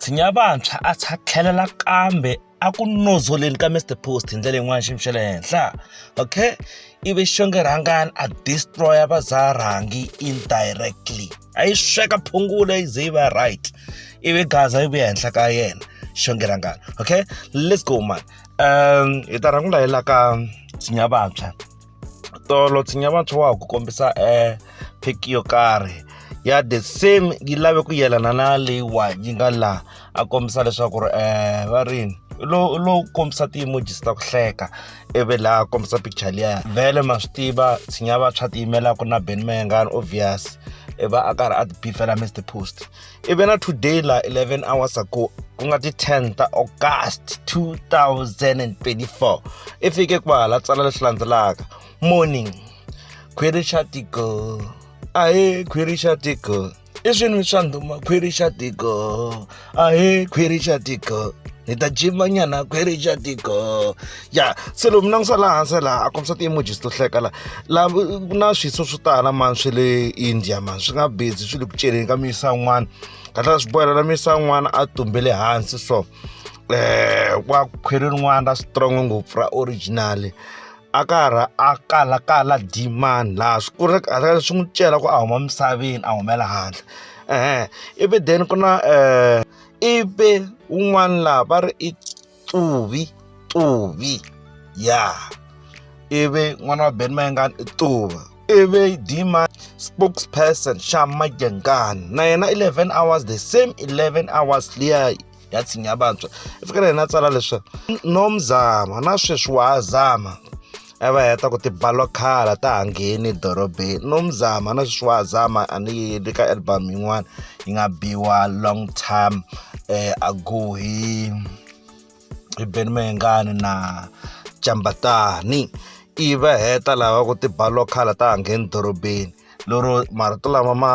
tshinya vantshwa a tsha tlhelela kambe a ku nozoleni ka mr post hi ndlela yin'wana xiyimo xa le henhla okay ivi xonge rhangani a destroya vazarhangi indirectly a yi sweka phungula yi ze yi va right ivi gaza yi vuya henhla ka yena xonge rhangani okay let's go man um hi ta rhangula hi la ka tshinya vantshwa tolo tshinya vantshwa wa ha ku kombisa um eh, pic yo karhi ya the same yi lave ku yelana na leyiwani yi nga laha a kombisa leswaku ri um va rini lowu lo kombisa ti-emojis ta ku hleka ivi laha kombisa picture liya vhele ma swi tiva tshinya vantshwa tiyimelaka na ben mayengani obvious i va a karhi a ti bifela mr post ivi na today la 11 hours ago ku nga ti 10 ta august 2024 i fike kwahala tsala leswi landzelaka morning khwiri xa tiko ahe khwiri xa tiko i swinwi swa ndhuma khwiri xa tiko ahe khwiri xa tiko ni ta jimanyana khwiri xa tiko ya se lomu langutisa laha hansi laha a kombisa ti-emojis to hleka la la ku na swiso swo tala mani swe le india mani swi nga busy swi le ku celeni ka miyisa yin'wana kahlala swi bohela la miyisa yin'wana a tumbele hansi so um wa khwiri rin'wana ra strong ngopfu ra original a ka ha ra a kalakala dimani laha swi ku ri swi n'wi cela ku a huma misaveni a humela handle um ivi then ku na um ivi un'wana laha va ri i Tuvi, Tuvi. Ya. Ivi n'wana wa Ben Mayengani i Tuva. Ivi Dima spokesperson Shama Jengani. Na yena 11 hours the same 11 hours liya ya tshinya vantshwa. I fika na yena a tsala leswaku no mzama na sweswi wa ha zama. a va heta ku tibalokhala ta ha ngheni dorobeni no mzama na sweswi wa ha zama a ni yeli ka album yin'wana yi nga biwa long time um ago hi hi beni mahengani na jambatani i va heta lava ku tibalokhala ta ha ngheni dorobeni lero marito lama ma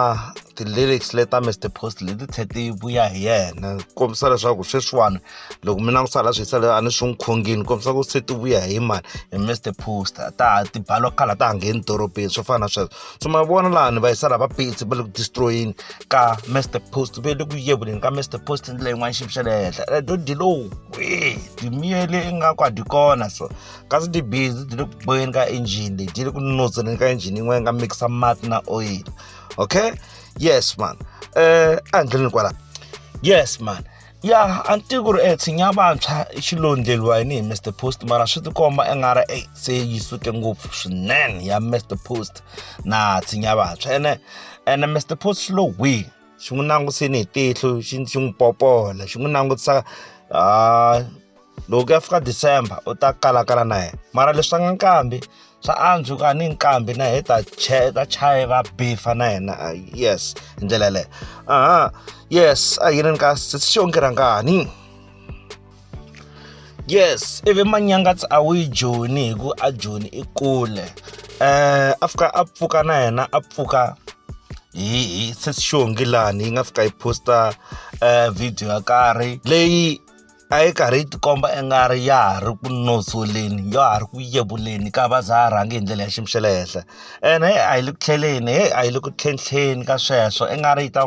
ti-lyrics le ta mr post leti tlhe ti vuya hi yena kombisa leswaku sweswiwani loko mi langusa la swisa le a ni swi n'wi khongini kombisa ku se ti vuya hi mani hi mr post ta ti balo khala ta ha ngheni dorobeni swo fana na sweswo so ma vona laha ni va yisa lava pitsi va le ku destroyeni ka mr post va le ku yevuleni ka mr post ndlela yin'wana xivi xa le henhla redo di lowu kwi dimiyele ingaku a di kona so kasi tibhizi ti le ku boyeni ka engine leyi ti le ku notseni ka engine yin'wana yi nga mikisa mati na oil okay yes man um ehandleni kwala yes man ya a ni tivi ku ri e tshinya vantshwa i xilondleliwa yini hi mr post mara swi tikomba i nga ri e se yi suke ngopfu swinene ya mr post na tshinya vantshwa ene ene mr post xi lo wihi xi n'wi langutiseni hi tihlo xi xi n'wi popola xi n'wi langutisa a loko ku ya fika december u ta kalakala na yena mara leswi swa nga nkambi swa antswa ku a ni nkambi na yena ta ta chaye va bifa na yena ah, yes hi ndlela yeleyo aha yes a yini ni ka sixonge rhangani yes ivi manyangatsi a wu yi joni hi ku a joni i kule um a fika a pfuka na yena a pfuka hi sesixongi lani yi nga fika yi posta um video yo karhi leyi a yi karhi yi tikomba i nga ri ya ha ri ku nozoleni ya ha ri ku yevuleni ka va za ha rhangi hi ndlela ya xiyimo xa le henhla ene heyi a yi le ku tlheleni heyi a yi le ku tlhentlheni ka sweswo i nga ri yi ta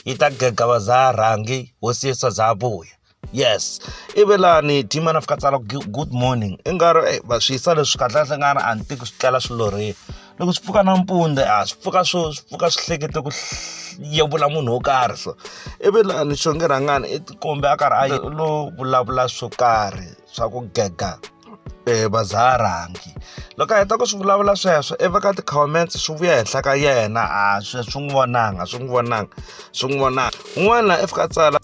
yi ta gega va za ha rhangi hosi yesu a za ha vuya yes ivi lani team ana fika tsala good morning i nga ri va swi yisa leswi kahlekahle nga ri a ni tiki swi tlela swilorheni loko swi pfuka nampundzu a swi pfuka swo swi pfuka swi hlekete ku yevula munhu wo karhi so ivi lani xonge rhangani i tikombe a karhi a yi lo vulavula swo karhi swa ku gega um vazaharangi loko a heta ku swi vulavula sweswo i veka ti-comments swi vuya henhla ka yena a swi swi n'wi vonanga swi n'wi vonanga swi n'wi vonanga un'wana i fika tsala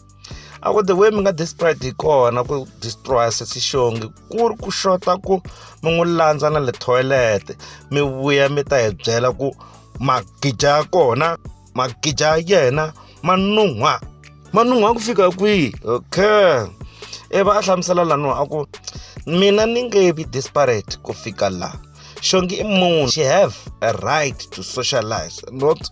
a ku the way mi nga desperate hi kona ku destroya sesi xongi ku ri ku xota ku mi n'wi landza na le toilet mi vuya mi ta hi byela ku magija ya kona magija ya yena ma nun'hwa ma nun'hwa ku fika kwihi okay i va a hlamusela laniwa a ku mina ni nge vi desperate ku fika laha shongi i munhu she have a right to socialize not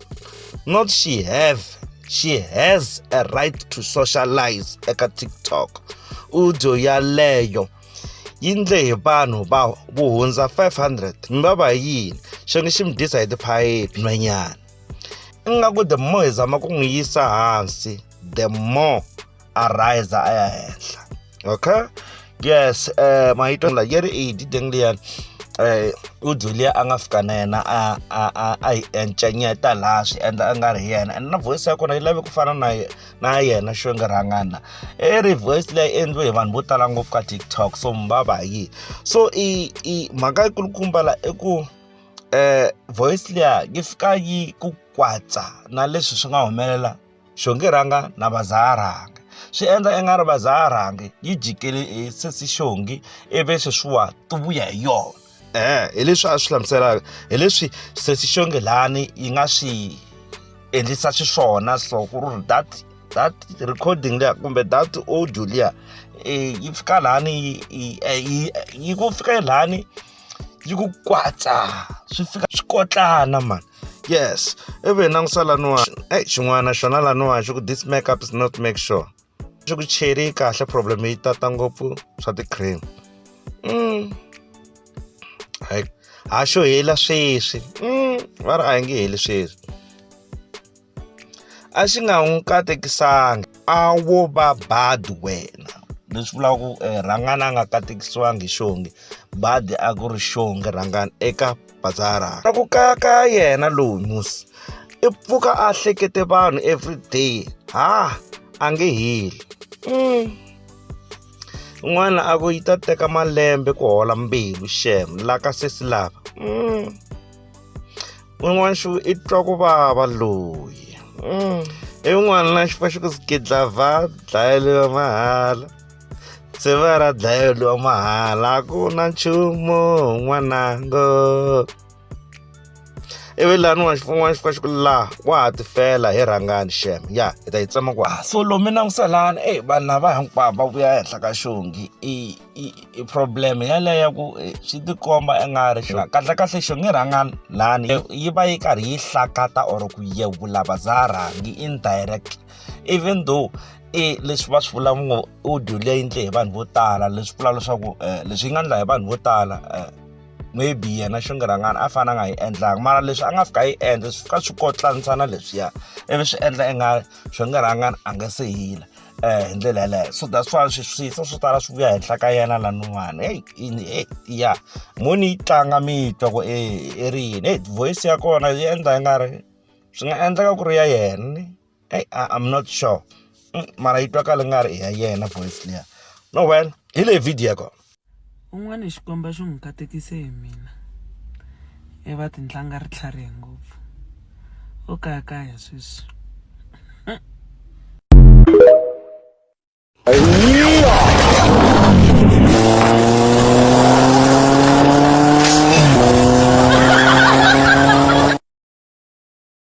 not she have she has a right to socialize eka tiktok audio yaleyo yi ndle hi vanhu va vo hundza 500 mi va va yini xonge xi mi disa hi tiphayiphi nhwenyana ingaku the more hi zama ku n'wi yisa hansi the more a riser a ya henhla okay yes eh uh, mahito la yeri e di deng le yan eh u Julia a nga fika na yena a a a a yi encenyeta laha swi endla a nga ri yena and na voice ya kona yi lave ku fana na na yena xo nga rhangana e ri voice leyi endliwe hi vanhu vo tala ngopfu ka tiktok so mbaba yi so i i mhaka yi kulukumba la i ku eh voice leya yi fika yi ku kwatsa na leswi swi nga humelela xonge rhanga na vazarhanga swi endla i nga ri vazarhangi yi jikele hi sesi xongi ivi sweswiwa ti vuya hi yona eh hi leswi a swi hlamuselaka hi leswi sesi xonge lani yi nga swi endlisa xiswona so ku ri that that recording liya kumbe that audio liya eh, yi fika lani yi ku fika lani yi ku kwatsa swi fika swi kotlana mani yes ivi hi langusa laniwani eyi xin'wana xona laniwani xi ku this make up is not make sure xi ku cheri yi kahle problem yi tata ngopfu swa ti-cream mm. ha xo hela sweswi mm. va ri a yi nge heli sweswi a xi nga n'wi katekisanga a wo va bad wena leswi vulaka ku eh, rhangana a nga katekisiwangi hi xonge badi a ku ri xonge rhangana eka bazara a ku kaya ka yena loyi musi i pfuka a hlekete vanhu everyday ha a nge heli mm. n'wana a ku yi ta teka malembe ku hola mbilu xem la ka sesi lava mm. n'wini wa nxu i twa ku vava loyi mm. i n'wana na xifa xi ku sikidla va dlayeliwa mahala se va ra dlayeliwa mahala a ku na nchumu n'wanango ivi lani wa xin'wana xi xi ku laha wa ha tifela hi rhangani xem ya hi ta yi tsema ku ah, so lomi langusela lani e vanhu lava hinkwavo va vuya ehenhla ka xongi i problem yeleyo ya ku eh, swi tikomba i nga ri xona kahlekahle xo nge rhanga lani yi va yi karhi yi hlakata or ku yevula va za rhangi indirect even though i leswi va swi vula ngo audio leyi ndle hi vanhu vo tala leswi vula leswaku eh, leswi yi nga ndla hi vanhu vo tala eh, maybe yena xingirangana a fana a nga yi endlanga mara leswi a nga fika a yi endla swi fika swi kotlanisana leswiya ivi swi endla i nga xingirangana a nga se hila um hi ndlela yeleyo so that's why swiswiso swo tala swi vuya henhla ka yena lanuwani heyi ini heyi ya moni yi tlanga mi twa ku e i ri yini heyi voice ya kona yi endla yi nga ri swi nga endleka ku ri ya yena eyi i'm not sure mm, mara yi twakala nga ri i ya yena voice liya no well hi leyi video ya kona un'wana xikwembu xi n'wi katekise hi mina e va tintlanga ri tlharihe ngopfu o kayakaya sweswi